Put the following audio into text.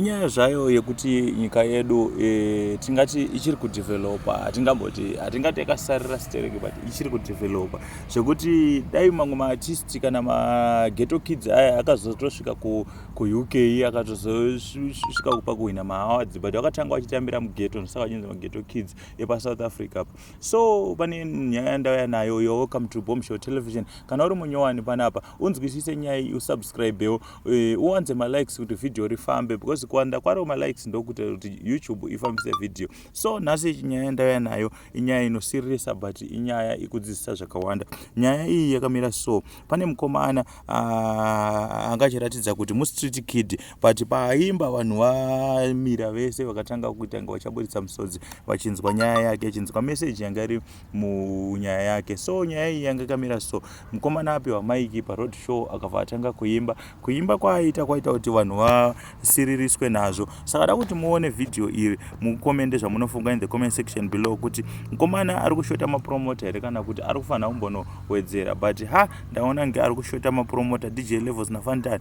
inyaya zvayo yekuti nyika yedu e, tingati ichiri kudevelopa hatingamboti hatingati yakasarira stereki but ichiri kudevelopa zvekuti dai mamwe maartisti kana mageto kids aya akazotosvika kuuk akatozosvika kupa kuhwina maawards but vakatanga vachitambira mugeto ndosaka vachinzi mageto kids epasouth africa so pane nyaya yandauya nayo yo welcome to bomb show television kana uri munyowani panapa unzwisise nyaya iyi usubscribewo Eh, uwanze malikes kuti vhidhiyo rifambe because kuwanda kwaro malikes ndokuita kuti youtube ifambise vhidhiyo so nhasi nyaya yandauya nayo inyaya inosiririsa but inyaya ikudzidzisa zvakawanda nyaya iyi yakamira so pane mukomana ah, anga achiratidza kuti mustreet kid but paaimba vanhu vamira vese vakatanga kuita nga vachaburitsa musodzi vachinzwa nyaya yake achinzwa meseji yanga iri munyaya yake so nyaya iyi yanga ikamira so mukomana apiwa maiki paroad show akabva atanga kuimba kuimba kwaaita kwaita kuti vanhu vasiririswe nazvo saka da kuti muone vhidhiyo iri mukomende zvamunofunga in the comment section below kuti mukomana ari kushota mapromota here kana kuti ari kufanira kumbonowedzera but ha ndaona nge ari kushota mapromota dj levels nafantani